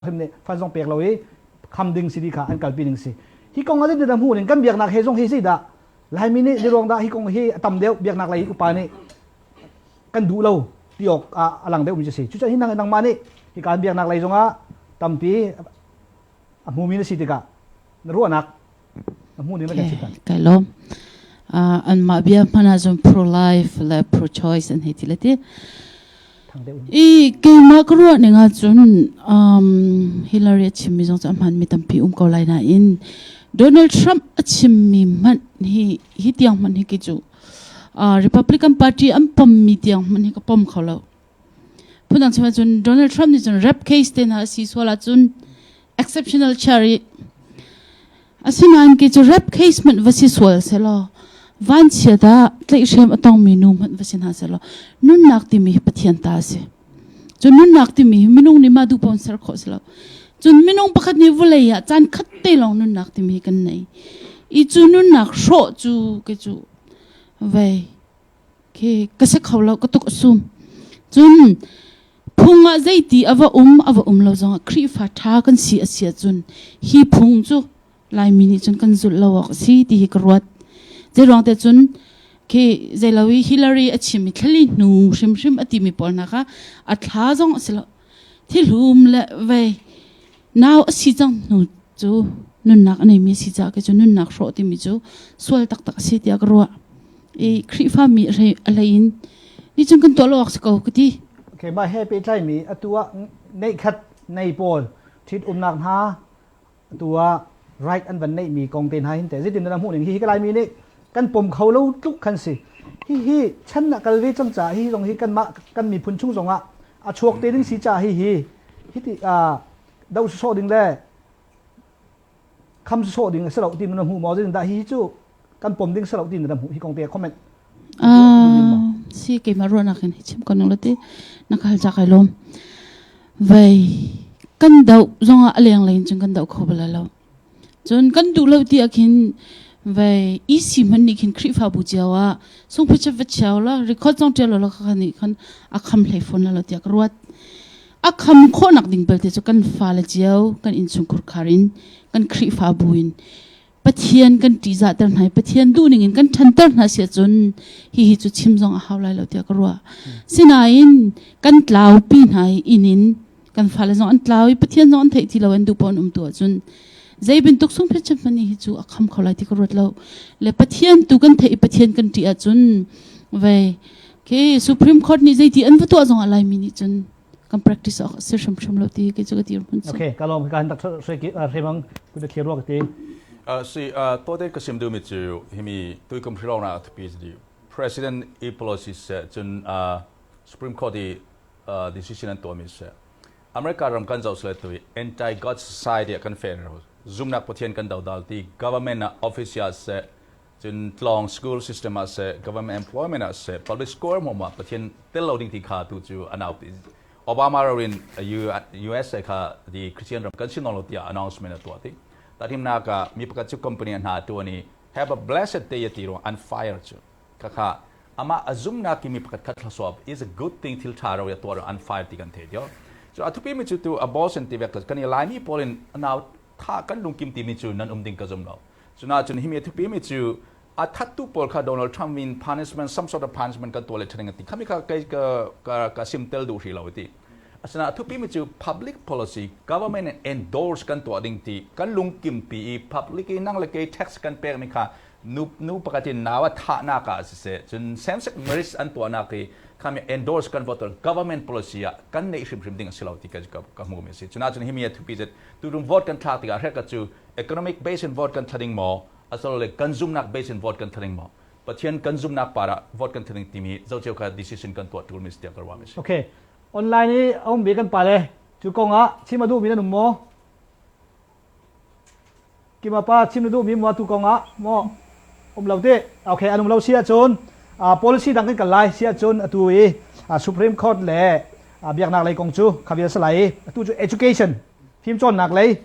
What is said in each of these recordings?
him nih fai zong pek lo i kham ding si ti kha an kalpi ding si hi kong ah na hmuh ning kan biaknak he zong hi si dah laimi nih ni ruang dah hi kong hi a tam deuh biaknak lei upa nih kan duh lo ti awk ah a lang deuh mi cu si cucaah hi nang nangmah nih hi kan biaknak lei zong ah tampi a hmumi na si tikah na ruahnak kai lawm an mah bia hman ah cun pro life le pro choice an hei ti le ti i keimah ka ruah ning ah cun um, Hillary a chimmi zong cu a hman mi tampi um ko lai na in Donald Trump a chimmi hmanh hi hi tiang hmanh hi ki cu uh, Republican Party an pom mi tiang hmanh hi ka pom kho lo Phundang chungah cun Donald Trump nih cun rap case te hna a si sual ahcun exceptional chair i asinain kei cu rap case hmanh va si sual selaw van chiat ah tlaihhrem a tongmi nu hmanh va si hna selaw nunnak timi hi Pathian ta a si. Cun nunnak timi hi minung nih mah duh pawn ser khawh si lo. Cun minung pakhat nih vulei ah caan khat te lawng nunnak timi hi kan nei. I cu nunnak hrawh cu kei cu vei khi ka si kho lo ka tuk sum cun phung ah zeiti ava um ava um lo zong ah khrifa tha kan si asia cun hi phung cu laimi nih cun kan zulh lo awk si ti hi ka ruat je ruang te cun khi zeilawi hillary a chim mi thlali hnu hrimhrim a ti mi pawl hna kha a thla zong a si lo Thihlum le vei nau a si cang hnu cu nunnak a neimi a si caah cu nunnak hrawh timi cu sual taktak a si tiah ka ruah i Khrihfa mi a hlei in ni cun kan tuah lo awk si ko ka ti. Okay, mah he pehtlaimi atu ah neikhat nei pawl ṭhit umnak hna atu ah right an van neih mi kong te hna hin te zitin na hmuhning hihi ka Laimi nih kan pom kho lo tluk kan si hihi chan ah kal ve cang ca hi zong hi kan mah kan miphun chung zong ah a chuak te ding si ca hi hi hiti ah do sawh ding le kham sawh ding a si lo ti na hmu maw zitin dah hi cu kan pom ding selo tin na hmuh hi kong te comment ah si ke ma ruana kin chim kon lo ti na khal ja kai lom vai kan dau zonga aleng lein chun kan dau kho bala lo chun kan du lo ti akhin vai ec man ni khin khrifa bu chiawa sung phu chet chiaw la record song tel lo kha ni khan akham hlei phone la lo ti ak ruat akham kho nak ding belte chu kan fa la chiaw kan in chung khur kharin kan khrifa bu in Pathian kan ṭihzahter hna i Pathian duhning in kan ṭhanter hna si ahcun hihi cu chim zong a hau lai lo tiah ka ruah. Sinain kan tlaupi hna i inn in kan fale zong an tlau i Pathian zong an theih ti loin duhpaoh an um tu ahcun zei bantuk sunphet cem hmanh hi cu a kham kho lai ti ka ruat lo. Le Pathian tu kan theih i Pathian kan ṭih ahcun ve okay, Supreme Court nih zeiti an va tuah zong ah Laimi nih cun kan practice awk a si hrimhrim lo ti kei cu ka dirhmun cu. Okay, ka lawm ka han tak hrimang ku da thir ruak ti. si tote ka sim duhmi cu himi tuikum hiro na atpi di president i policy se cun supreme court i decision an tuami se america ram kan zoh sile tu anti god society kan fair zumnak pathian kan dodal ti government na official se Cun tlawng school system ah seh, government employment ah seh, public square hmawm ah Pathian tel lo ding ti kha tu cu an auh ti. Obama rin USA kha the Christian ram kan si lo tiah announcement a tuah ti. Tahimnak ah mi pakhat cu company hna tu ni have a blessed day ti rung an fire cu. Kaka ama azumnak mi pakhat khat thlasop is a good thing til tha ro ya tuar an fire ti kan the dio. So athupi mi cu tu abortion ti vek kan i laimi polin anau tha kan lungkim ti mi cu nan um ding ka zum lo. Cunahcun hi mi a thupimi cu a thattu pawl kha Donald Trump in punishment, some sort of punishment kan tuah le ṭhaning a ti. Khami kha kei ka, ka, ka simtel duh hri lo a ti. Asinain a thupimi cu public policy, government in endorse kan tuah ding ti kan lungkimpi i public i nang le kei tax kan pekmi kha nu, nu pakhat in nau a thahnak ah siseh, cun same-sex marriage an tuahnak hi khami endorse kan vote government policy ah kan neih hrimhrim ding a si lo ti ka, ka, ka hmuhmi a si. Cunahcun hi mi a thupi cu tutum vote kan thlak tikah hrekhat cu Economic base in vote kan thlaning maw, asilo le kan zumhnak base in vote kan thlaning maw, Pathian kan zumhnak par ah vote kan thlaning timi zoh cio kha decision kan tuah ṭulmi si tiah ka ruah mi si. Okay. Online i a ummi kan pale, cu kong ah chim a duhmi nan um maw? Kimapa chim na duhmi maw tu kong ah maw um lo ti? Okay, an um lo si ahcun policy dang kan kal lai si ahcun atu i Supreme Court le biaknak lei kong cu kha vial sa lai. Atu cu education fimcawnnak lei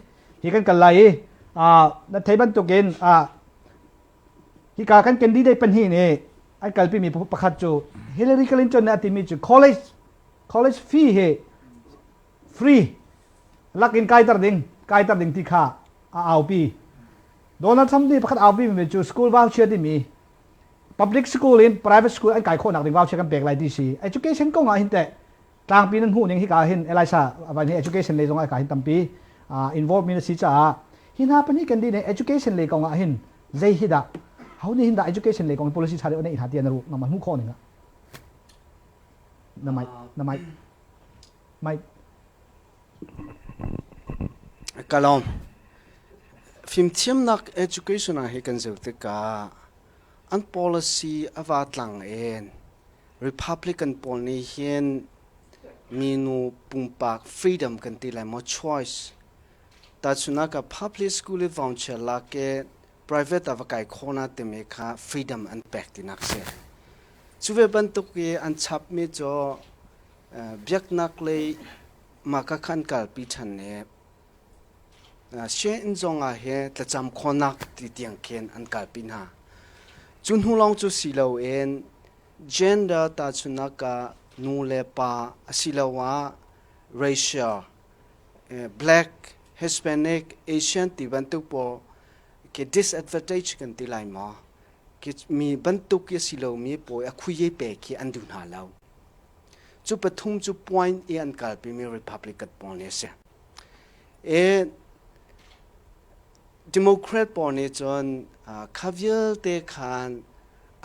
hi kan kal lai i na thei bantukin hika kan candidate pahnih nih an kalpimi pakhat cu Hillary Clinton nih a timi cu college college fee hi free lakin kaiter ding kaiter ding ti kha a aupi Donald Trump nih pakhat aupi mi cu school voucher timi public school in private school an kai khawhnak ding voucher kan pek lai ti si education kong ah hin teh Tlangpi nan hmuh ning hika ah hin Elisa a vai nih education lei zongah hika hin tampi involved mi na si caah hi hna pahnih kan dih nih education lei kong ah hin zei hi dah ho nih hin dah education lei kong in policy ṭha deuh neih hna tiah na ruh na hmuh khawh ning ah na mic na mic mic kalawm fimthiamnak education ah hi kan zir tikah an policy a va tlang in Republican pawl nih hin minu pumpak freedom kan ti lai maw choice tahchunak ah public school i vawngchia lak i private ah va kai khawhna timi kha freedom an pek tinak si cu ve bantuk i an chapmi cu biaknak lei mah ka khan kalpi ṭhan i Sianginn zong ah hi thlacam khawnak ti tiang khin an kalpi hna. Cu hnu lawng cu si loin gender tahchunhnak ah nu le pa asiloah racial, black, Hispanic, Asian ti bantuk pawl khi disadvantage kan ti lai maw? Khi mi bantuk i a si lomi pawl a khuiye pe khi an duh hna lo. Cu pathum cu point i an kalpimi Republican pawl ni a si. E Democrat pawl nih cun kha vialte khan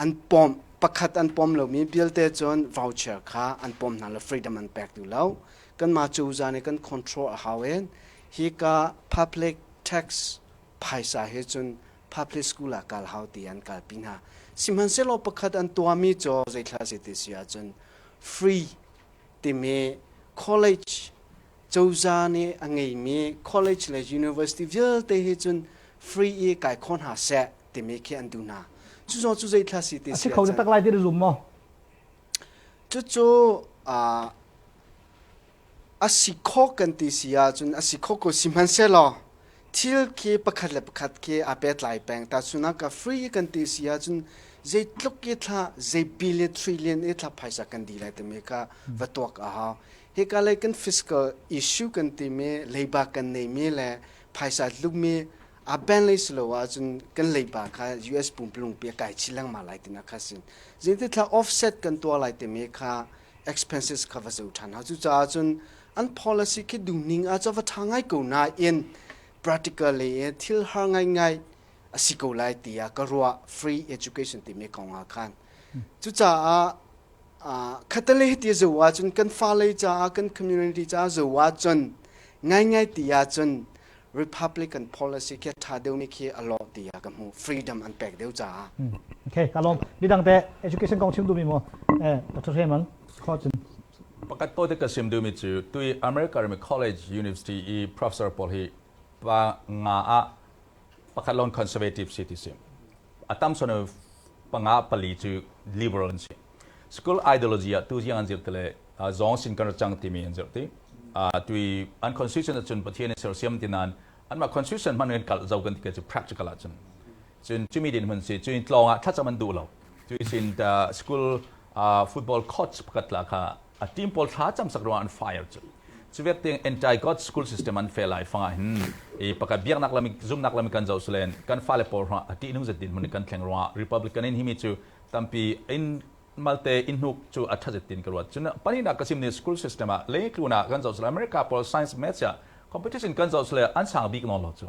an pom pakhat an pom lomi vialte cun voucher kha an pom hna le freedom an pek duh lo kanmah cozah nih kan control a hau in hi ka public tax phaisa he cun public school ah kal hau ti an kalpi hna sihmanhsehlaw pakhat an tuahmi cu zeithla zeti si ahcun free timi college cozah nih a ngeimi college le university vialte hi cun free i kai kho hna seh timi khi an duh hna cu zaw cu zeithla si ti si kho na tak lai ti zum maw cucu a si kho kan ti si ahcun a si kho ko si hmansehlaw thil khi pakhat le pakhat khi a pet lai peng ta sunak ka free kan ti si ahcun zei tluk i thla zei billion trillion i thla phaisa kan di lai timi ka va tuak a hau Hika lei kan fiscal issue kan timi, leiba kan neimi le phaisa tlukmi aa ben lei si lo ahcun kan leiba kha US pumpulungpi a kai chih lengmang lai tinak kha a si. Zeitithla offset kan tuah lai timi kha expenses kha va zo ṭhan hna. Cucaah cun an policy khi dungning ah cu va ṭha ngai ko nain practically thil har ngaingai a si ko lai tiah ka ruah free education timi kong ah khan. Cucaah khatale hiti a zo ahcun kan fale caah kan community caah zo ahcun ngaingai ti ahcun Republican pawl a si khi a ṭha deuhmi khi a lawh ti a ka hmuh freedom an pek deuh caah Okay, ka lawm. Midang te education kong chim duhmi maw? Eh, Dr. Hreman, kho cun. Pakat pote ka sim duhmi cu tui America rami college university i professor pawl hi pa nga ah pakhat lon conservative si ti si a tam son panga pali cu liberal an si school ideology ah tu ziang an zirh tile zong sin kan chang timi an zirh ti tui an constitution cun pathian sersiam tinan anmah constitution man kalh zo kan ti cu practical ah cun cun cumi din hun si cun tlawng ah thlacam an duh lo tui sin school football courts pakhat la kha a team pawl thla cam sak ruangah an fire cu cu vialte anti god school system an fel lai fanga hin i pakhat biaknak lami zumnak lami kan zo sulen kan fale pawl hra a ti nung zet din mun kan thleng ruangah republican in himi cu tampi in malte in hnuk cu a thazet tin ka ruat cun panina ka sim ne school system ah le tluna kan zo sule america pawl science maths ya competition kan zo sule an sang bik no lo cu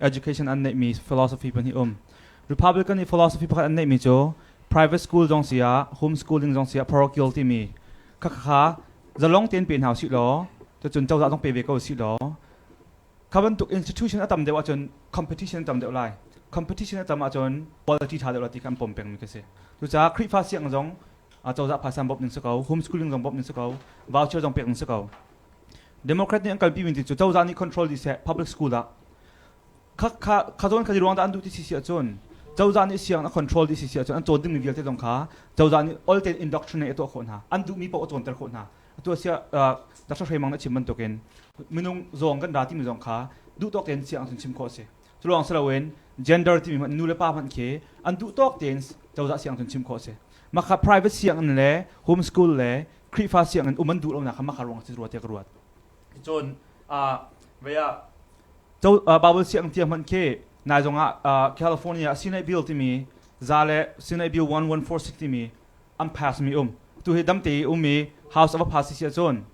education an neihmi philosophy pahnih um republican i philosophy pakhat an neihmi cu private school zong si ah home schooling zong si ah parochial timi khakhakha zalong tein pe hna usih law cun cozah zong pe ve ko usih law kha bantuk institution a tam deuh ahcun competition a tam deuh lai competition a tam ahcun quality tha deuh ti kan pom pengmi ka si cucaah khrihfa siang zong cozah phaisa bawmh ning si ko home schooling zong bawmh ning si ko voucher zong pek ning si ko Democrat nih an kalpi mi cu cozah nih control dih seh public school ah kha kha kha zawn kha di ruang dah an duh ti si si ahcun cozah nih siang a control dih si si ahcun an cawn ding mi vialte zong kha cozah nih ol tein indoctrinate a tuah khawh hna an duh mi paoh a cawnter khawh hna atu asiah Dr. Hre Mang nih a chim bantukin minung zawng kan ra timi zong kha duhtawk tein siang cun chim khawh a si curuang si loin gender timi nu le pa hmanh khi an duhtawk tein cozah siang cun chim khawh a si maka private sianginn le homeschool le Khrihfa sianginn um an duh lonak kha maka ruangah si rua tiah ka ruat. Cun ah ve ah Co, uh, Bible siang tia hman khi nai zong ah uh, California Senate Bill timi za le Senate Bill 1146 timi an pass mi um tu hi dam te um mi House of a pass si cun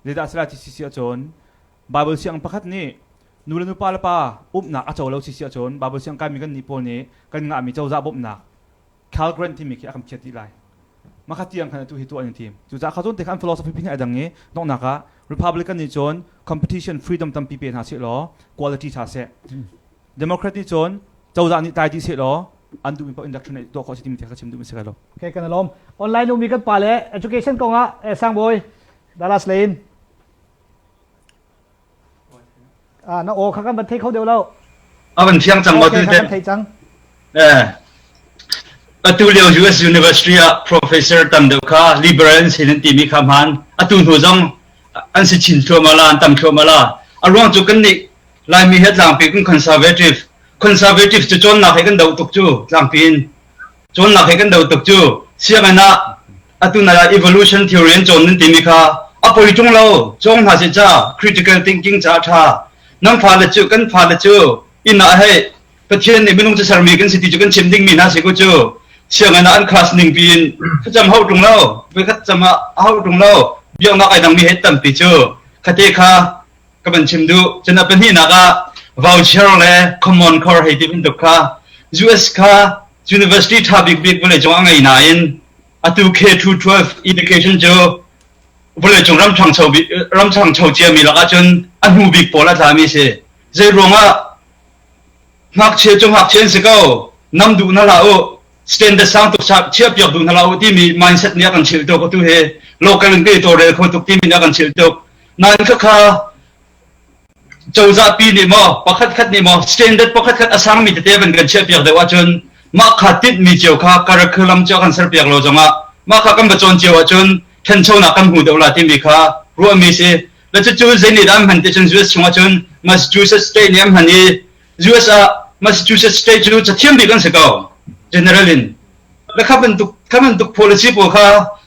zedah sila ti si cun Bible siang pakhat ni nu le nupa le pa umnak a co lo si cun Bible siang kan mi kan ni pawl ni kan ngah mi coza bawmnak Calgren timi khi a kan phiat dih lai. Mah tiang khan atu hi tuah an tim. Cucaah kha cun te khan philosophy phi a dang i donghnak ah Republican nih cun competition freedom tampi pe hna seh law quality tha seh. Democrat nih cun cozah nih tai dih seh law an duhmi paoh industry nih tuah khawh si timi te kha chim duhmi si kai lo. Okay, kan alawm. Online ummi kan pa le education kong ah eh, sang bawi Dallas Lane. Ah, na aw kha kan van thei kho deuh lo. A van thiang cang maw tu te. Kan thei cang. Eh. Atu lio US University ah professor tam deuh kha liberal an sin an ti mi kha man atu hnu zong an si chin thluam ala an tam thluam ala a ruang chu kan ni lai mi he tlang pi kun conservative conservative chu chon na he kan do tuk chu tlang pin Cun lak he kan do tuk cu sianginn ah atu nai ah evolution theory an cawn nan timi kha a poi ṭung lo cawng hna si ca critical thinking ca ṭha nan fale cu kan fale cu inn ah hei Pathian nih minung cu sermi kan si ti cu kan chim dingmi hna si ku cu sianginn ah an class ning piin facam hau ṭung lo voikhat cam ah a hau ṭung lo biaknak ai dangmi hei tampi cu khate kha ka van chim duh cun a pahnihnak ah voucher le common core hei ti bantuk kha US kha university tha bik bik vawlei cung a ngei nain atu K12 education cu vawlei cung ramthangcho ramthangcho ciami lakah cun a hnu bik pawl a tlami si zei ruangah ngakchia cu ngakchia si ko nam duh na la u standard sang tuk chia piak duh na la u timi mindset nih a kan chil tuk tu he local in ke to rel kho tuk timi nih a kan chil tuk Nan ka kha cozah pi nih maw pakhat khat nih maw standard pakhat khat a sangmi tete ban kan chiah piak deuh ahcun mah kha tinhmi cio kha curriculum cio kan ser piak lo zongah mah kha kan bacawn cio ahcun ṭhanchonak kan hmu deuh la timi kha ruahmi si la cucu zeinit an hman ticun US chungah cun Massachusetts state nih an hman i US ah Massachusetts state cu cathiam bik an si ko general in Na kha bantuk kha bantuk policy pawl kha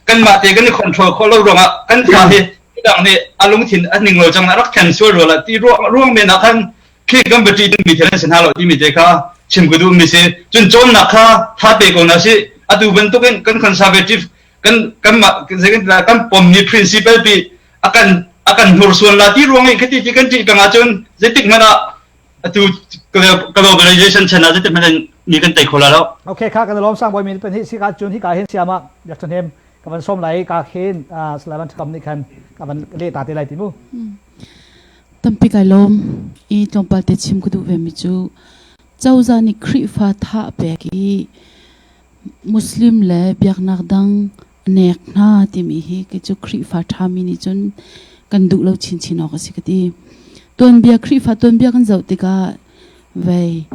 kanmah te kan i control khawh lo ruangah kan fa hi midang nih a lungthin a ning lo cang na rak thlen sual rual ah ti ruang ruang men ah khan khi kan bati din mi thil an sin halo ti mi te kha chim ku du mi si cun chon na kha tha pe ko na si atu bantukin kan conservative kan kan kan pom ni principle pi akan akan hmur suan la ti ruang i khati ti kan ti kanga chun zetik mana atu globalization chan ah zeitihmanh in ni kan tei kho la lo okay kha kan lom sang boimin pen hi si ka chun hi ka hin siama yak thon hem ka van som lai ka khin slalan kham ni khan ka van le ta te lai timu tampi kai lom i tlongpal te chim ku du ve mi chu chawza ni khrifa tha pe ki muslim le biaknak dang Nek hna timi hi kei cu Khrihfa ṭhami nih cun kan duh lo chinchin awk a si ka ti. Tuanbia Khrihfa tuanbia kan zoh tikah vei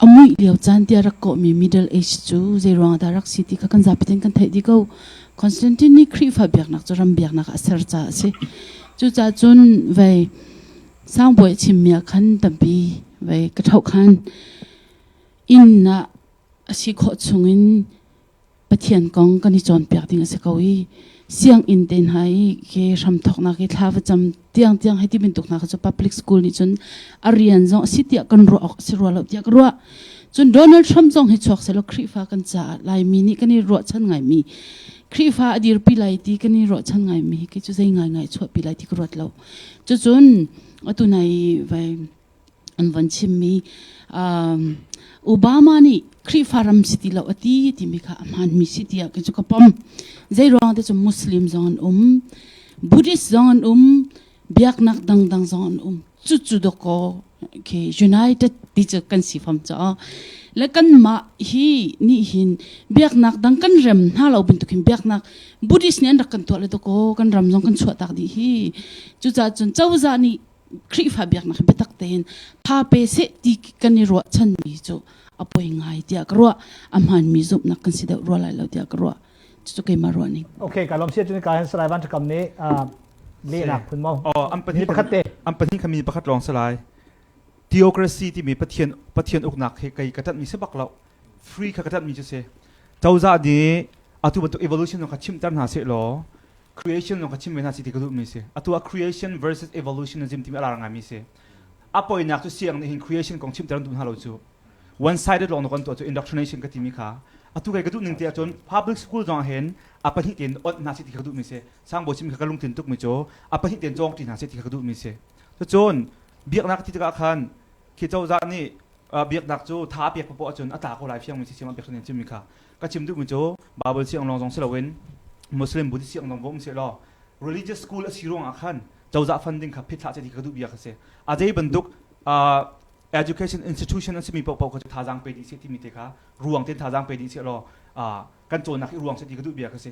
a muih lio caan tiah rak kawhmi Middle Age cu zeiruang dah rak si ti kha kan zapi tein kan theih dih ko. Constantine nih Khrihfa biaknak cu ram biaknak a ser caah a si. Cucaah cun vei sangbawi a chimmi ah khan tampi vei ka thoh khan innak a si khawh chungin Pathian kong kan i cawnpiak ding a si ko i sianginn te hna i ke hram thawknak i thla va cam tiang tiang hei ti bantuk hna kha cu public school nih cun a rian zong a si tiah kan ruah awk a si rua lo tiah ka ruah cun Donald Trump zong hi chuak selaw Khrihfa kan caah Laimi nih kan i ruahchan ngaimi Khrihfa a dirpi lai ti kan i ruahchan ngaimi hi kei cu zei ngaingai chuahpi lai ti ka ruat lo cucun atu nai vai an van chimmi Obama nih Khrihfa ram si ti lo a ti timi kha a hmaanmi si tiah kan cu ka pom zeiruang te cu Muslim zong an um Buddhist zong an um biaknak dangdang zong an um cu cu doko okay united ti cu kan si fam ca le kan mah hi ni hin biaknak dang kan rem hna lo bin tukin biaknak buddhist nih an rak kan tuah le to ko kan ram zong kan chuah tak di hi cuca cun cozah nih Khrihfa biaknak biatak tein thape se ti kan i ruahchan mi cu a poi ngai tiah ka ruah a hman mi zumhnak kan si deuh rua lai lo tiah ka ruah cucu keimah ruahning Okay, ka lawm sia cun ka han salai van ṭhakam nih ah, lehnak phun maw Oh, an pahnih Mi pakhat te. an pahnih kha mi pakhat lawng si lai theocracy timi pathian pathian uknak hi kei ka ṭanhmi si bak lo free kha ka ṭanhmi cu si cozah nih atu bantuk evolution kha chimter hna seh law creation zong ka chim ve hna si ti ka duhmi si atu ah creation versus evolutionism timi a lar ngaimi si a poinak cu siang nih hin creation kong chimter an duh hna lo cu one sided lawng na kan tuah cu indoctrination ka timi kha atu kai ka duh ning te ahcun public school zong hen a pahnih ten ot hna si ti ka duhmi si sang bo chim ka lungtin tukmi cu a pahnih ten cawng ti hna si ti ka duhmi si cun biaknak ti tikah khan khi cozah nih biaknak cu tha a pek popo ahcun a tla ko lai fiangmi si siang biaknak chimmi kha ka chim duhmi cu Bible siang lawng zong si loin Muslim Buddhist siang zong va um seh law religious school a si ruangah khan cozah funding kha phitthlah seh ti ka duh bia kha si a zei bantuk education institution an simi paohpaoh kha cu thazaang pe ding seh timi te kha ruang ten thazaang pe ding seh law kan cawnnak hi ruang seh ti ka duh bia kha si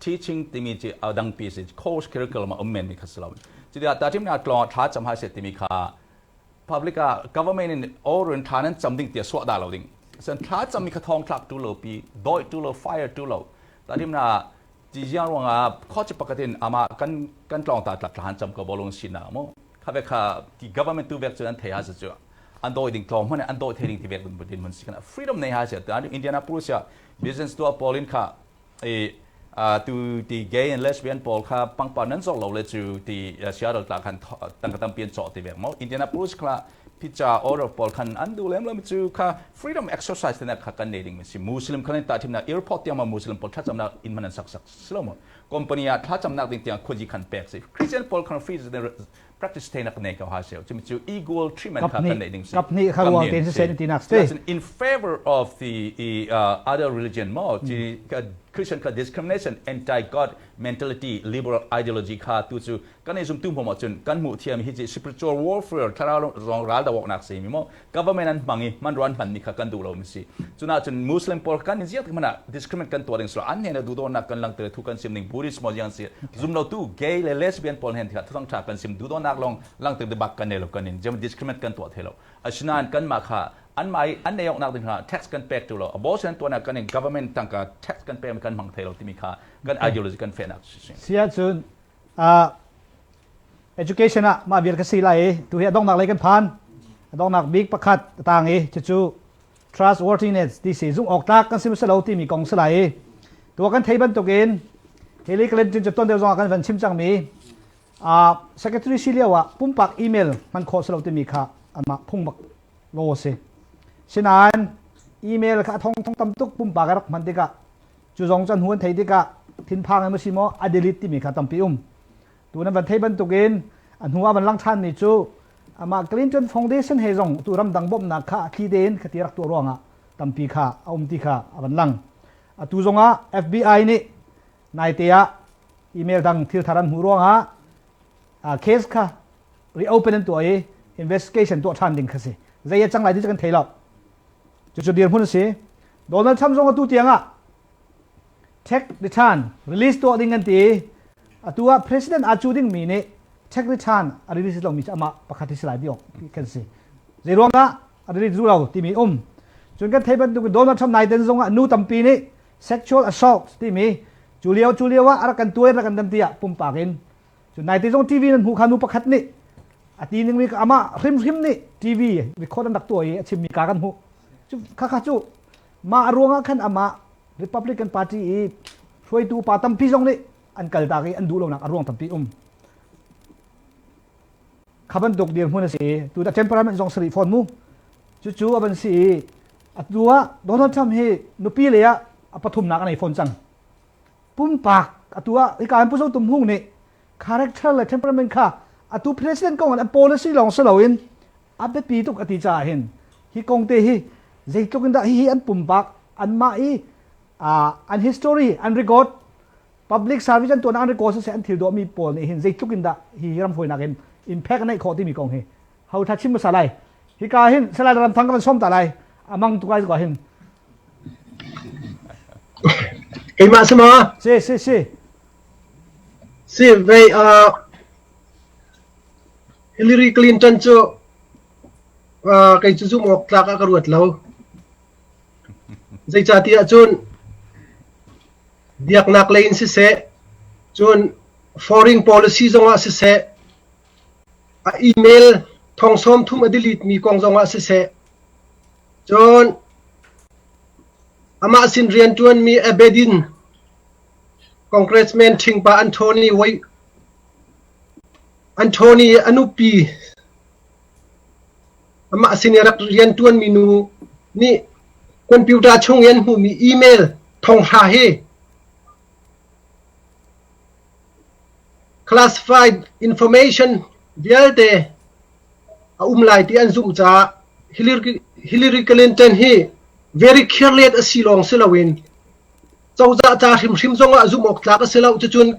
teaching timi cu a dangpi si course curriculum a um men mi kha si lo cuti ah tachim nih tlawng thla cham hai se timi kha public ah government in all run tha nan cham ding tia suwa da lo ding sen thla cham mi kha thong thlak tu lo pi doi tu lo fire tu lo tachim na ti jiang ruang a khochi pakatin ama kan kan tlawng ta tlak than cham ko bolong si na mo kha ve kha ti government tu vek chu an thei ha se chu an doi ding tlawng hone an doi thei ding ti vek dun budin mun sikana freedom nei ha se ta indianapolis ya business to polin kha tu ti gay and lesbian pawl kha pangpar nan zor lo le cu ti siarol tla khan tangka tampian cawh ti ve mo indianapolis kha pizza order pawl khan an du lem lem cu kha freedom exercise tena kha kan nei ding mi si muslim khan ta thim na airport tiang ma muslim pawl thlacam nak in man sak sak silo mo company a thlacam nak ding tiang khoji khan pek si christian pawl khan free practice te nak nei ko ha se cu cu equal treatment kha kan nei ding si kap ni kha ruang te se sen ti nak se that's in favor of the uh, other religion mo ti Christian ka discrimination anti god mentality liberal ideology kha tu chu kan ei zum tu mo ma chun kan mu thiam hi ji spiritual warfare thara zong ral da wok nak se mi mo government an hmang i hmanrua an hmanmi kha kan duh lo mi si cunahcun muslim pawl kan i ziak hmanh ah discriminate kan tuah ding sual an hnena duhdawtnak kan langter thu kan sim ding buddhist maw ziang si zumlotu gay le lesbian pawl hen tikha thang tha kan sim duhdawtnak long langter de bak kan ne lo kan in jem discriminate kan tuah the lo asinain kan ma kha an mai an nei oknak ding kha tax kan pek tu lo abortion tuana kan in government tangka tax kan pek mi kan hmang thei lo timi kha kan ideology kan fenak si si. Sia cun uh, education ah mah vial ka si lai i tu hi a donghnak lei kan phan a donghnak bik pakhat a tang i cucu trustworthiness ti si zung awk tlak kan si lo timi kong si lai i tua kan thei bantuk in hi li Clinton cu ton deu zong ah kan van chim cangmi uh, secretary si lio ah pumpak email man kho si lo timi kha anmah phung bak lo si sinain email kha thong thong tam tuk pumpak rak hman tikah Cu zong cu hnu an theih tikah thinphang in si maw a delete timi kha tampi um. Tu nan van thei bantukin a hnu ah van lang ṭhanmi cu amah Clinton Foundation he zong tu ramdang bawmhnak kha thli tein khati rak tuah ruangah tampi kha a um ti kha a van lang. Atu zongah FBI nih naite ah email dang thil thar an hmuh ruangah case kha reopen an tuah i investigation tuah ṭhan ding kha si. Zei a cang lai ti cu kan thei lo. Cucu dirhmun a si. Donald Trump zong atu tiang ah take return release tuah ding an ti atu ah president aa cu dingmi nih take return a release lomi cu amah pakhat hi si lai dih kan si zei ruangah a release duh lo timi um cun kan thei bantuk in Donald Trump nai den zong ah nu tampi nih sexual assault timi cu lio cu lio ah a rak kan tuai rak kan dam tiah pumpak in cu naite zong TV nan hmuh kha nu pakhat nih a ti ningmi ka amah hrimhrim nih TV record an rak tuah i a chimmi ka kan hmuh cu khakha cu mah ruangah khan amah Republican Party i hruaitu pa tampi zong nih an kal tak i an duh lonak a ruang tampi um kha bantuk dirhmun a si i tu da temperament zong sarih fawn mu cucu a van si i atu ah Donald Trump hi nupi lei ah a pathumnak a nei fawn cang pumpak atu ah hika in Pu Zo Tum Hung nih character le temperament kha atu president kong an policy lawng si loin a biapi tuk a ti caah hin hi kong te hi zeitluk in dah hihi an pumpak anmah i uh, an history an record public service an tuan an record siseh an thil dawhmi pawl nih hin zeitluk in dah hi ram hawinak in impact neih khawh timi kong hi hau tha chim hmasa lai hika hin salai ram thang kan som ta lai amang tu kai ko hin keimah sama si si si si ve uh, Hillary Clinton cu uh, kai cu zum ok tlak a ka ruat lo zei ca ti ah cun biaknak lei in si se cun foreign policy zong ah si se A email thong sawmthum a delete mi kong zongah siseh, cun amah sin rianṭuanmi Abedin congressman ṭhingpa Anthony Wei- Anthony a nupi, amah sin i rak rianṭuanmi nu nih computer chung i an hmuhmi email thonghra hi Classified information vialte a um lai ti an zumh caah Hillary Clinton hi very careless a si lawng si loin cozah ca hrimhrim zongah zumh awk tlak a si lo. Cucun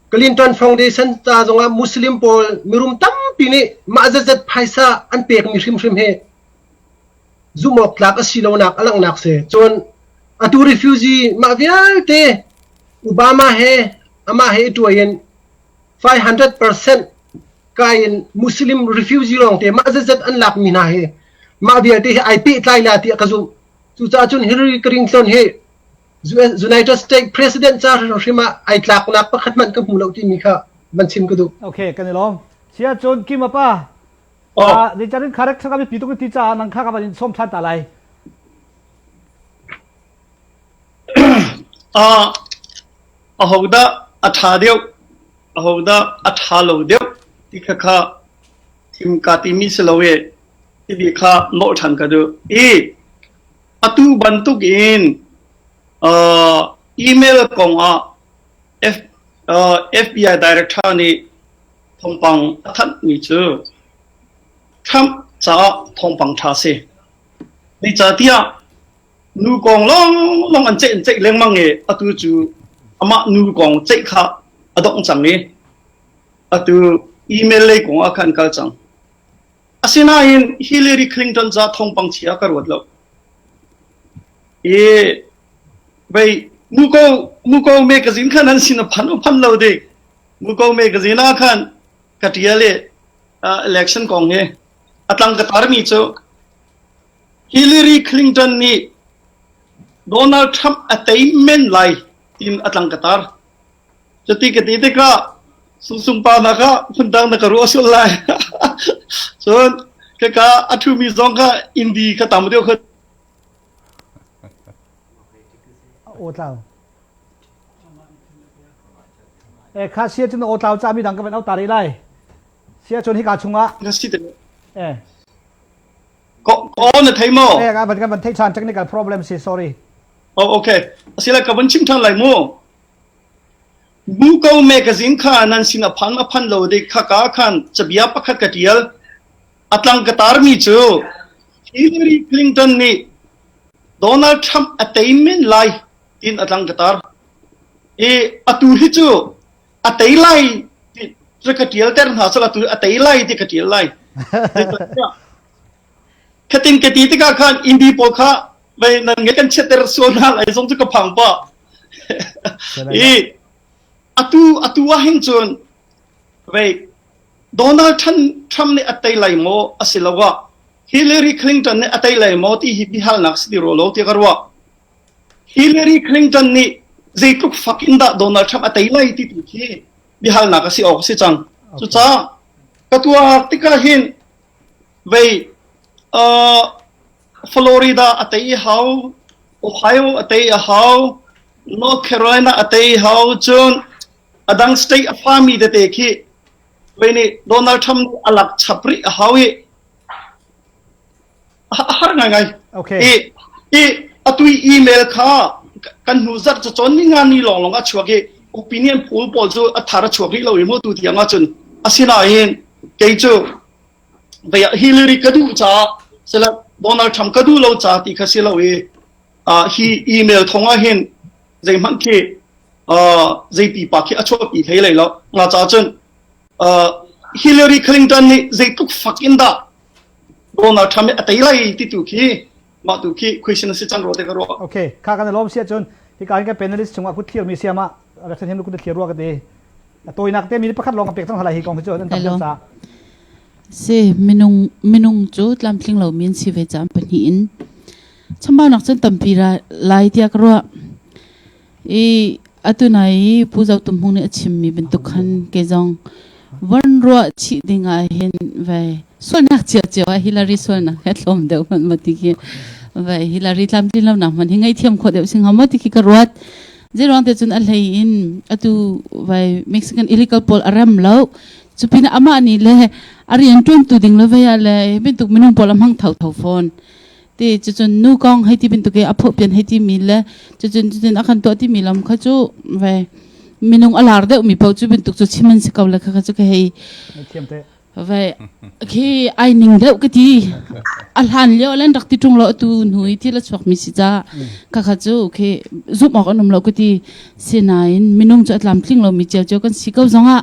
Clinton Foundation ca zongah Muslim pawl mirum tampi nih mah zatzat phaisa an pekmi hrimhrim hi zumhawktlak a si lonak a langhnak si. Cun atu refugee mah vialte Obama he amah he i tuai in 500% kai in Muslim refugee lawngte mah zetzet an lakmi hna hi mah vialte hi ai pehtlai la tiah ka zumh. Cucaah cun Hillary Clinton hi United States President ca hrim ah ai tlaknak pakhat hmanh ka hmu lo timi kha van chim ka duh. Okay, kan i lawm. Chiah cun Kim apa Ah, nature in character kami pitung in ti caah nang kha ka van in som than ta lai. Ah, a ho dah a tha deuh, a ho dah a tha lo deuh ti kha kha thim ka ti mi si lo e ti bi kha nol than ka du i atu bantuk in uh, email kong ah F, uh, FBI director nih Thawngpang a thanhmi cu Trump caah thawngpang ṭha a si. Zeicahtiah nu kong lawnglawng an ceih an ceih lengmang i atu cu amah nu kong ceih kha a dongh cang i atu email lei kong ah khan kal cang. Asinain hi Hillary Clinton ca thawngpang chia ka ruat lo. I vei muko muko mekazin khan an sin a phan u phan lo dik. Muko mekazin ah khan ka ṭial i uh, election kong hi a tlang ka tarmi cu Hillary Clinton nih Donald Trump a tei men lai tin a tlang ka tar. Cuti ka ti tikah sungsung pa hna kha phundang na ka ruah sual lai. cun ka ka a ṭhumi zong kha indi ka tam deuh khin a awtlau e kha sia cun aw tlau ca mi dang ka van auta re lai sia cun hika chungah ka si te e ko ko na thei mo e ka van kan van thei chan chak ni ka problem si sorry oh okay asila ka van chim than lai mu Bu ko mekazin kha nan sin a phang a phanh lo ding khaka khan cabia pakhat ka ṭial. A tlang ka tarmi cu Hillary Clinton nih Donald Trump a tei men lai tin a tlang ka tar. I atu hi cu a tei lai ti ka ṭial ter hna sal atu a tei lai ti ka ṭial lai. Khatin ka ti tikah khan Indi pawl kha mei nan nge kan chiatter sual hna lai zong cu ka phang pa i atu atu ah hin cun vei Donald Trump nih atei lai maw asi lo wa Hillary Clinton nih atei lai maw ti hi bihalnak si di ro lo ti ka ruwa Hillary Clinton nih zeitluk fakin dah Donald Trump atei lai ti tu khi bihalnak asi ok si cang cuca ka tua tika hin vei uh, Florida a tei a hau, Ohio a tei a hau, North Carolina a tei a hau. Cun a dang state a phami tete khi kei nih Donald Trump nih a lak chap rih a hau i a har ngaingai. Okay. I, i a tui email kha kan hnu zat cu chon ni ngan ni lawng lawng a chuak i opinion pool pawl cu a thar a chuak rih lo i mu tu tiang ah cun asinain kei cu Veiah Hillary ka duh caah silah Donald Trump ka duh lo caah ti kha si lo i uh, hi email thong ah hin zeihmanh khi uh, zeiti pa khi a chuapi thei lei lo nga cha cun uh, Hillary Clinton nih zeitluk fak in dah Donald Trump hi a tei lai ti tu khi Mah tu khi question a si can ruah te ka ruah. Okay, kha kan lom si ahcun hi ka kan panelist chungah kut thlir mi siam ah rak san hiam kut thlir ruah ka te. Tawinak te mi pakhat lawng ka pek thang hala hi kong hi cu an tam sa. Se minung minung cu tlamtling lo min si ve cham pahnih in chambau nak cun tampi ra lai tia ka ruah i atunai i Pu Zo Tum Hmung nih a chimmi bantuk khan ke zong van ruah chih ding ah hin vai sualnak cia cio ah Hillary sualnak he thlawm deuh hmanh ma ti khi vai Hillary tlamtlin lonak hmanh hi ngaihthiam khawh deuh si hnga maw ti khi ka ruat zeiruang te cun a hlei in atu vai Mexican illegal pawl a rem lo cu pin amah nih le a rian tuantu ding le vea le bantuk minung pawl a hmang tho tho fawn ti cucun nu kong hei ti bantuk i a phopian hei timi le cucun cucun a kan tuah timi lam kha cu ve minung a lar deuh mi pauh cu bantuk cu chim an si ko le kha kha cu ka hei ve khi ai ning deuh ka ti a hlan lio len rak ti tung lo tu nu i thil a chuak mi si ca ka kha cu khi zum awk an um lo ka ti sinain minung cu a tlam tling lo mi ceu ceu kan si ko zongah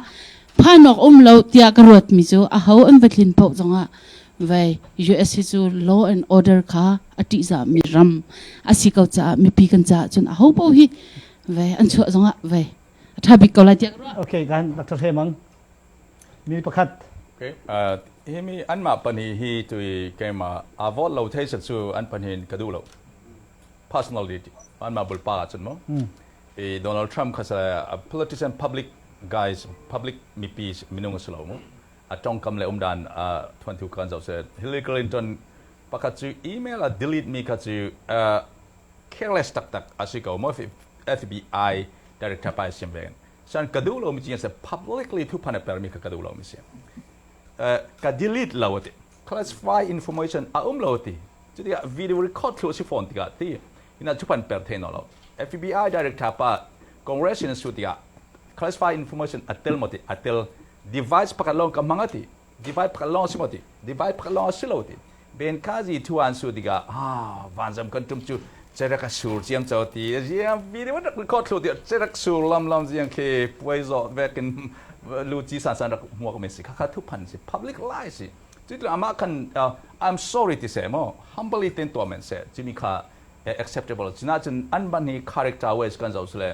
phan awk um lo tiah ka ruat mi cu a ho an va tlin pauh zongah Vai USA cu law and order kha a ṭihzahmi ram a si ko caah mipi kan caah cun a ho paoh hi vai an chuah zongah vai a ṭha bik ko lai tiah ka ruah. Okay, kan Dr. Hre Mang. Mi pakhat. Okay, uh, hi mi anmah pahnih hi tui keimah aa vote lo thei cu an pahnih ka duh lo. Personally, anmah bulpa ahcun maw. I Donald Trump kha politician public guys, public mipi minung a si lo mu. a tongkam le um dan thantu kha an zoh seh Hillary Clinton pakhat cu email a delete mi kha cu careless taktak a si ko mo FBI director pa sim ve san ka duh lo mi ci se publicly thu phan per mi kha ka duh lo mi si ka delete lo classify information a um lo ti cuti ah video record thlu si fawn tikah ti ina cu pan per thei no lo FBI director pa congress in su tikah classify information atel mo ti atel device pakhat long ka manga ti device pakhat long si mo ti device pakhat long si lo ti ben kazi thuan su tikah ha van zam kan tum chu cerak a sur ciam cho ti riang video rak record thlu ti cerak sur lam lam riang khi puai zo vekin luci san san rak hmuak mi si khakha thu phan si public lai si tu tu ama kan i'm sorry ti se mo humbly tin to men se chimi kha acceptable china chun an ban hi character ways kan zo sule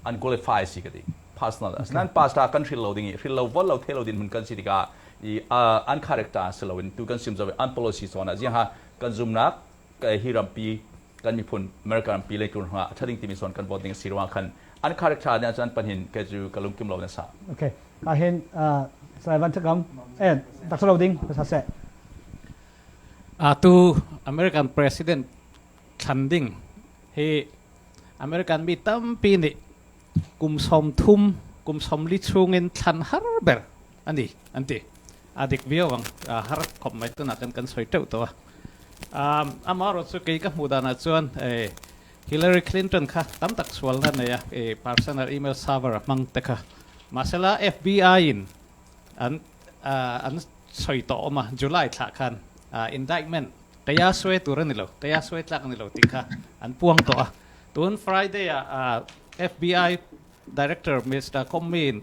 an qualify si kadi personal nan past kan thil lo ding i thil lo vol lo the lo din mun kan si tika i an character si lo in tu kan sim zo an policy so na ji ha kan zoom nak hi rampi kan miphun American rampi lei tlun hngah a that ding timi sawn kan vote ding a si ruang khan an kharik tha ne ahcun pahnin kai cu ka lungkim lo ne sa okay a hin sai van thakam eh taksa lo ding sa se a tu American president thlan ding hi American mi tampi nih kum som thum kum som li chungin thlan har ber an ti an ti a dik viau ang har khop mai tunak kan kan soi teuh to um, amarawhchu kei ka hmuh danah chuan eh, Hillary Clinton kha tam tak sualna neia eh, personal email server a hmang te kha masala FBI in an uh, an soi to oma July thla khan uh, indictment kaya swe tur ni lo kaya swe tlak ni lo ti kha an puang to a tun Friday a uh, FBI director Mr. Comey in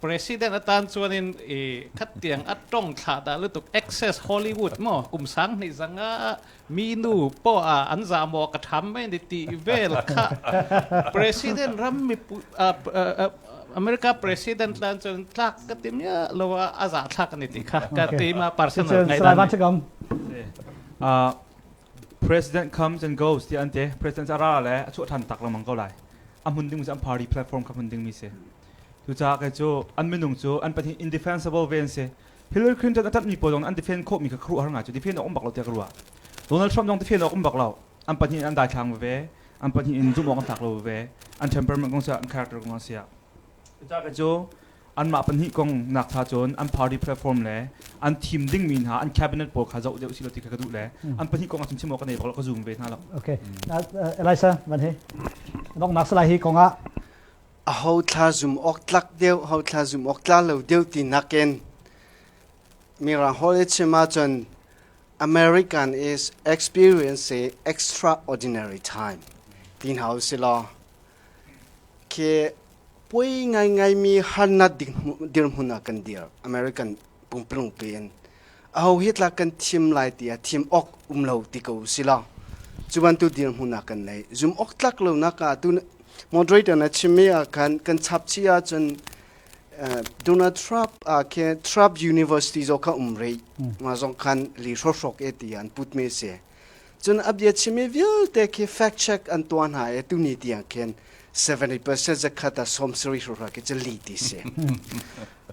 President atan chuan in i khat tiang a tong thla da lutuk excess Hollywood mo kum sang hnih zang a mi nu po a an za mo ka tham mai ni ti vel kha president ram mi America president tan chuan tlak ka tim ya lo a za thlak ni ti kha ka ti ma personal guidance uh president comes and goes ti ante president ara le a chu than tak la mang ko lai a mun ding mu party platform ka mun ding mi se Cucaah kei cu an minung cu an pahnih indefensible ve an si. Hillary Clinton a ṭanhmi pawl zong an defend khawhmi kha ka ruah har ngai cu defend awk um bak lo tiah ka ruah. Donald Trump zong defend awk um bak lo. An pahnih in an daithlang veve. An pahnih in zumh awk an tlak lo veve. An temperament kong siah, an character kong siah. Cucaah kei cu anmah pahnih kong nakcha cun an party platform le an thim dingmi hna an cabinet pawl kha zoh deuh usih law ti kha ka duh le an pahnih kong a chimchim awk ka nei bak lo ka zum ve hna lo. Okay. Uh, Elisa, van hi. Donghnak salai hi kongah aho thla zum awk tlak deuh, ho thla zum awk tla lo deuh ti nakin Mirang hawi chim ahcun American is experience i extraordinary time ti hna u si law khi pui ngaingai mi harnak dirhmun ah kan dir American pumplungpe in aho hi tlak kan thim lai tiah thim awk um lo ti ko si lo cu bantuk dirhmun ah kan nei zum awk tlak lo nak ah tu moderator na chim mi ah khan kan chap chi ah cun Donald Trump a ke Trump University zo kha um rei ma zong khan li hrohrok e ti an put me se Cun a bia chimmi vialte khi fact check an tuah hna i tuni tiang khin 70% zakhat a sawm sarih rura khi cu li ti si.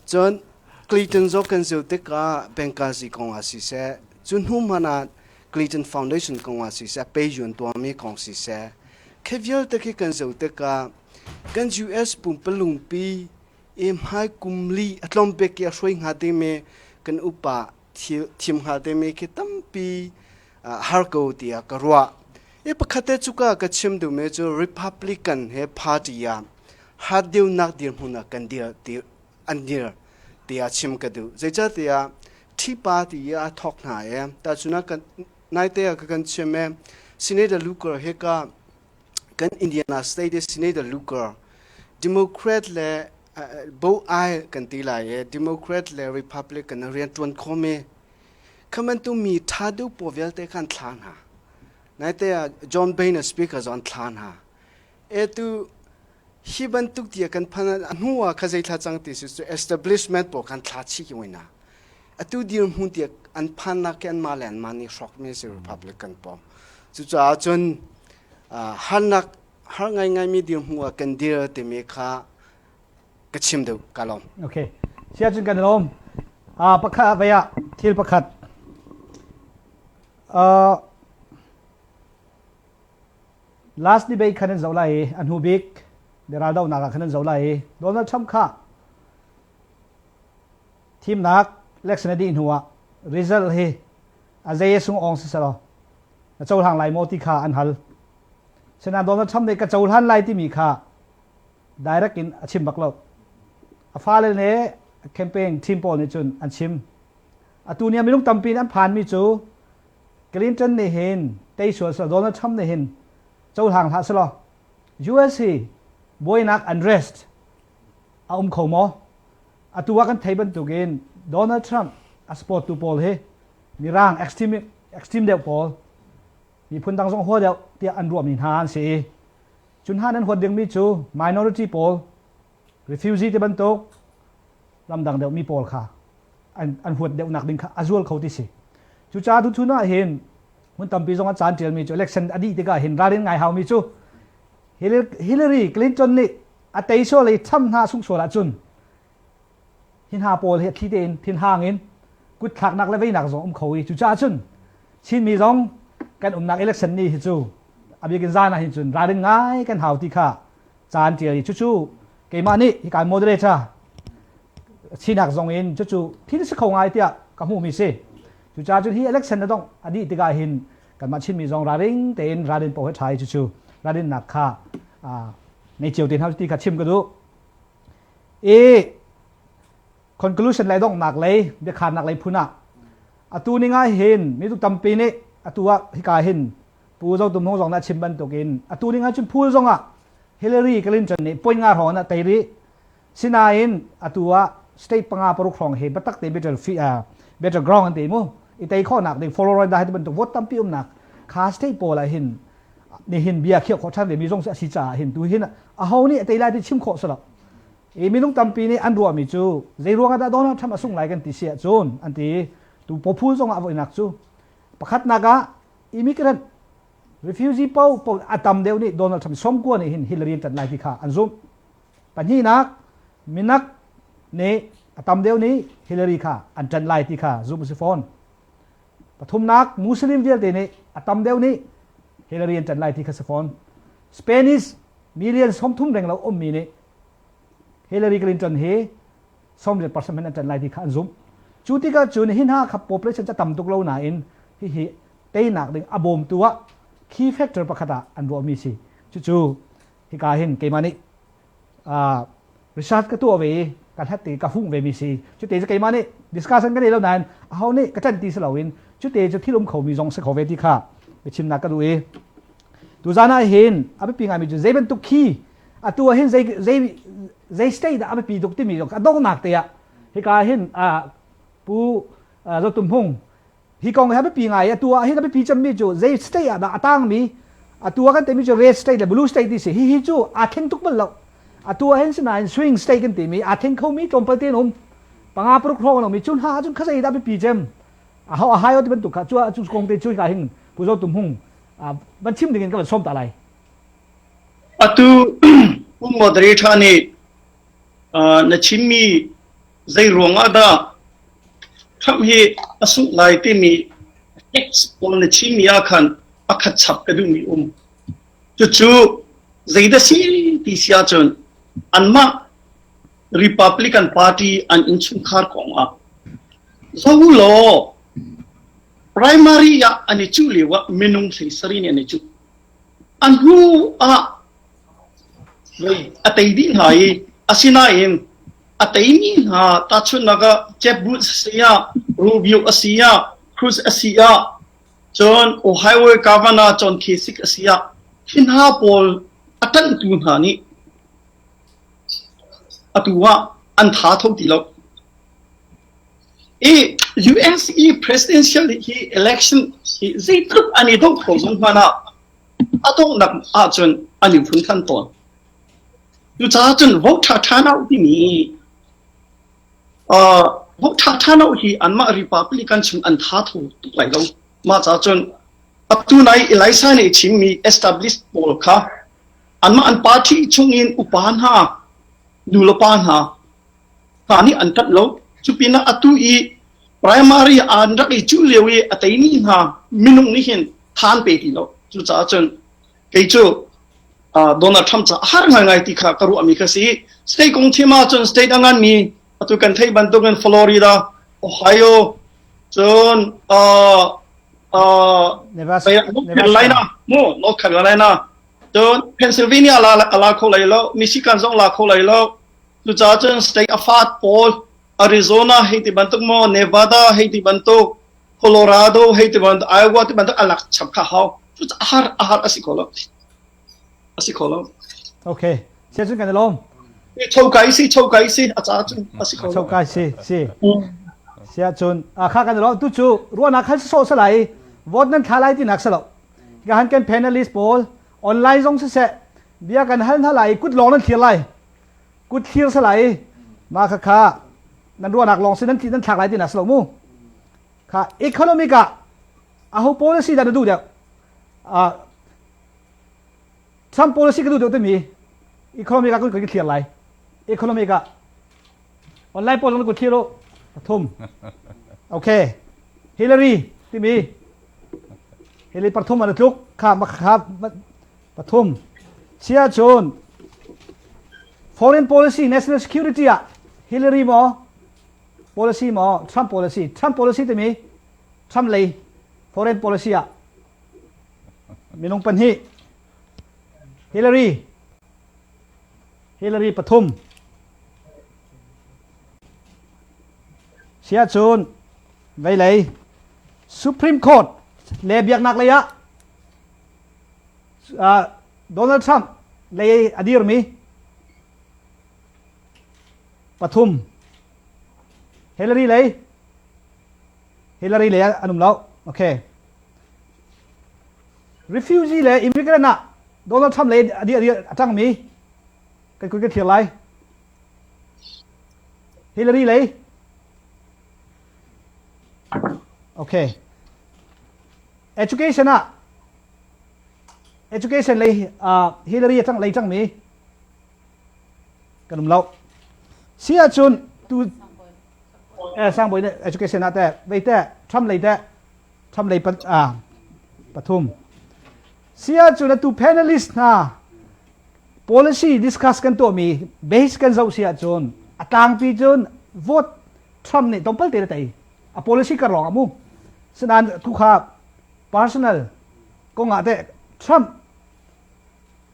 cun Clayton zaw kan zil tikah Benghazi kong ah siseh, cu hnu hmanh ah Clayton Foundation kong ah siseh, peiyuan tuahmi kong siseh, khi vialte khi kan zil tikah kan US pumpalungpi i hmai kum li a tlawm bik i a hruai hnga dingmi kan upa thim hngal te mi khi tampi har ko ti a ka ruah e pakhat te cuka ka chim du me cu republican he party a hat deu nak dir hmun a kan dir an dir ti a chim ka du zeica ti a thi pa ti a thok hna e ta chuna kan nai te ka kan chim e senator luker he ka kan indiana state de senator luker democrat le bo ai kan ti lai e democrat le republican a rian tuan khom e khaman tu mi tha du po vialte khan thla na nai te a john bain a speaker zon thla na e tu hi ban tuk tia kan phan a hnu a kha thla chang ti su establishment po khan thla chi ki wina atu dir mu tia an phan na ke an ma len ma ni shrok mi si republican po chu cha chun hannak har ngaingaimi dirhmu ah kan dir timi kha ka chim deuh ka lawm. Okay. Siacun kan lawm. Uh, pakhat vai ah thil pakhat. Uh, last debate khan an zo lai i an hu bik deraldo nak ah khan an zo lai i Donald Trump kha Thimnak election a dih hnu ah result hi a zei a sung awng siselaw na cohlang lai maw ti kha an hal. Sinain Donald Trump nih ka cohlan lai timi kha direct in a chim bak lo. A fale le a campaign team pawl nih cun an chim. Atu ni ah minung tampi nih an phanmi cu Clinton nih hin tei sual selaw Donald Trump nih hin cohlang hlah selaw US hi buainak unrest a um kho maw? Atu ah kan thei bantukin Donald Trump a supporttu pawl hi Mirang extreme extreme deuh pawl miphun dang zong hua deuh tiah an ruahmi hna an si i cu hna nan huat dingmi cu minority pawl refugee ti bantuk ramdang deuhmi pawl kha an, an huat deuhnak ding kha a zual kho ti si cucaah tuchun ah hin hmun tampi zong a caan ṭialmi cu election a dih tikah hin ralrin ngai haumi cu Hillary Clinton nih a teisual i ṭham hna sungh sual ahcun hi hna pawl hi thli tein thinhang in kutthlaknak le veinak zong um kho i cucaah cun Chinmi zong kan umnak election ni hi cu a bikin zan ah hin cun ralrin ngai kan hau ti kha caan ṭial i cucu keimah nih hi kan moderator sinak zong in cucu thil si kho ngai tiah ka hmuhmi si cucaah cun hi election na dongh a dih tikah hin Kanmah Chinmi zong ralring tein ralrin paoh he ṭha i cucu ralrinnak kha ngei cio te hna ti kha chim ka duh. I conclusion lei donghnak lei biakharnak lei phun ah atu ni ngai hin mituk tampi nih atu ah hika hin Pu Zo Tum Hung zong nih a chim bantuk in atu ni ngai cun phul zong ah Hillary Clinton nih point nga hrawng in a tei rih Sinain atu ah state panga paruk hrawng he biatak te battle fee uh, battleground an te mu i tei khawhnak ding Florida dah bantuk vote tampi umnak kha state pawl ah hin nihin bia khiah khawh than ve mi zong si a si caah hin tu hin a ho nih tei lai ti chim khawh salo i minung tampi nih an ruahmi cu zei ruang ah dah Donald Trump a sung lai kan ti si ahcun an ti tu pophul zong ah voinak cu pakhatnak ah immigrant refugee po, po a tam deuh nih Donald Trump somkua nih hin Hillary an tlanh lai ti kha an zumh Pahnihnak, minak nih a tam deuh nih Hillary kha an ṭanh lai ti kha zumh a si fawn. Pathumnak, Muslim vialte nih a tam deuh nih Hillary an ṭanh lai ti kha si fawn. Spanish million sawmthum reng lo ummi nih Hillary Clinton hi sawm riat percent in an ṭanh lai ti kha an zumh. Cu tikah cun hi hna kha population cu a tam tuk lo nain hihi teinak ding a bawmtu ah key factor pakhat ah an ruahmi si. Cucu hika hin keimah nih uh, research ka tuah ve i ka hlat i ka hung ve mi si cute cu keimah nih discussion ka nei lo nain aho nih ka ṭan ti si loin cute cu thilum kho mi zong si kho ve ti kha biachimnak ka duh i tuzan ah hin a biapi ngaimi cu zei bantuk khi atu ah hin zei zei zei state dah a biapi tuk timi a donghnak te ah hika hin uh, pu uh, Zotum Hmung hi kong hi biapi ngai atu ah hi ka biapi cemmi cu zei state ah dah a tangmi atu ah kan timi cu red state le blue state ti si hihi cu aa thleng tuk bal lo atu ah hin sinain swing state kan timi aa thleng khomi tlawmpal te um panga paruk hrawng lomi cu hna ahcun khazei dah biapi cem a ho a hai o ti bantuk kha cu cu kong te cu ka hin puzo tum hung van chim dingin ka van som ta lai atu moderator nih na chimmi Zeiruang ah dah Trump hi a sungh lai timi text pawl na chimmi ah khan a khat chap ka duhmi um. Cucu zeidah si ti si ahcun anmah Republican Party an innchungkhar kong ah zo law primary ah an i cuh lio ah minung hleisari nih an i cuh. A hnu ah A tei dih hna i asinain a teimi hna tahchunhnak ah Jebus a si ah, Rubio a si ah, Cruz a si ah, cun Ohio Governor John Kasich a si ah, hi hna pawl a ṭanhtu hna nih atu ah an ṭha kho ti lo. I USE presidential hi election hi zeitluk an i do kho zong hmanh ah a donghnak ahcun an in funthan tawn. Cucaah cun vote ṭha ṭhan uh timi uh, vote ṭha ṭhan uh hi anmah Republican chung an tha thô tuk lai lo. Mah ca cun atu nai Elisa nih chimmi established pawl kha anmah an party chung in upa hna, nu le pa hna hna nih an ṭanh lo. Cupinah atu i primary aan rak i cuh lio i a teini hna minung nih hin than pe ti lo. Cucaah cun kei cu uh, Donald Trump ca a har ngaingai ti kha ka ruahmi kha si. State kong thim ahcun state a nganmi atu kan theih bantukin Florida, Ohio, cun uh, uh, Carolina, mu North Carolina, cun Pennsylvania la la kho lai lo, Michigan zong la kho lai lo, Cucaah cun state a fat pawl Arizona hei ti bantuk maw Nevada hei ti bantuk Colorado hei ti bantuk Iowa ti bantuk a lak chap kha hau cucaah a har a har a si kho lo a si kho lo okay sian sun kan lom choka isi choka isi a ca cun a si kho lo choka si si sia cun a kha kan lom tu cu ruana khan so sa lai vote nan thla lai ti nak sa lo ga han kan panelist pawl online zong se se bia kan hal na lai kut long nan thlir lai kut thlir salai ma kha kha nan ruahnak lawng si nan tli nan thlak lai tinak si lo mu kha economic ah aho policy dah na duh deuh uh, Trump policy ka duh deuh timi economic ah kun kan thlir lai economic ah online poll kan kun thlir lo pathum okay Hillary timi Hillary parthum an tluk kha ma kha Pathum. Chiahcun foreign policy, national security ah Hillary maw policy maw Trump policy? Trump policy timi Trump lei foreign policy ah minung pahnih Hillary Hillary pathum siahcun veilei Supreme Court le biaknak lei ah Donald Trump lei a dirmi pathum Hillary lei Hillary lei an um lo. Okay. Refugee le immigrant ah Donald Trump lei a a tangmi kai kun ka thir lai. Hillary lei Okay. education ah education lei uh, Hillary a tang lei tangmi kan um lo si ahcun tu eh sangboy ne education ah te vei te Trump lei te Trump lei pat ah pathum sia cu na tu panelist hna policy discuss kan to mi base kan zo sia chun atang pi chun vote Trump nih tong pal te na tei a policy ka rong a mu sinan thu kha personal kongah te Trump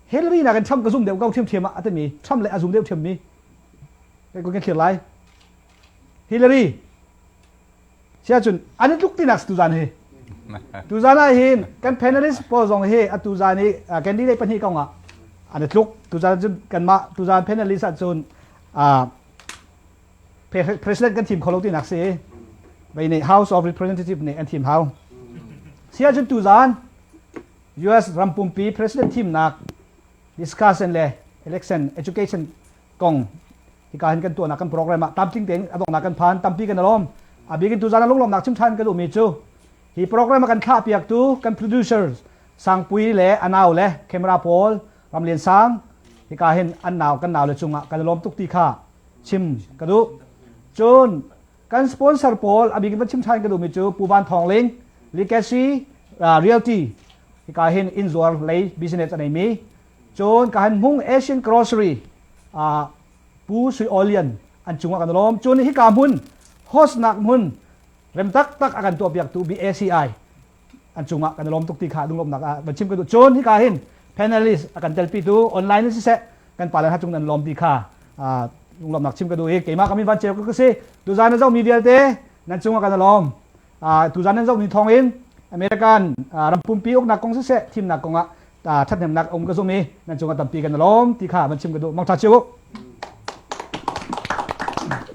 Hillary nakin Trump ka zum deuh ko thiam thiam ah atimi Trump le a zum deuh thiam mi ko ke thlir lai Hillary sia cun an i tluk tinak tu zan hi tu zan ah hin kan panelist pawl zong hi a tu zan i candidate pahnih kong ah an i tluk tu zan cun kan mah tu zan panelist ah cun president kan thim kho lo tinak si bei nei house of representative nih an thim hau si ahcun tu zan US ram pumpi president thimnak discussion le election education kong hika hin kan tuahnak kan program ah tamtling tein a dongnak kan phan tampi kan alom abikin tu zan lunglawm nak chim than kan umi cu hi program kan thlah piak tu kan producers sangpui le anau le camera pawl ramlian sang hika hin an nau kan nau le cungah kan lom tuk ti kha chim ka duh. Cun kan sponsor pawl a bik in va chim ṭhan ka duhmi cu Pu Van Thawng Ling, Legacy Realty, hika hin innzuar lei business a neimi, cun ka han hmung Asian Grocery ah Pu Sui Aw Lian an cungah kan lawm. Cun hika hmun, host nak hmun, rem taktak a kan tuahpiaktu BACI an cungah kan i lawm tuk ti kha a lunglawmhnak ah va chim ka duh cun hika hin panelist a kan telpi tu online in siseh kan pale hna cung nan lawm ti kha lunglawmhnak chim ka duh i keimah kami van ceu ka si tuzan na zohmi vialte nan cungah kan i lawm tuzan nan zohmi thawng in American rampumpi uknak kong siseh thimnak kongah Ṭhathnemnak a um ka zumh i nan cungah tampi kan lawm ti kha van chim ka duh. Mangṭha cio u.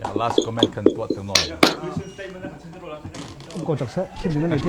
Yeah, last comment kan tuah tu nawn. Um ko cak seh, chim ding na nei ti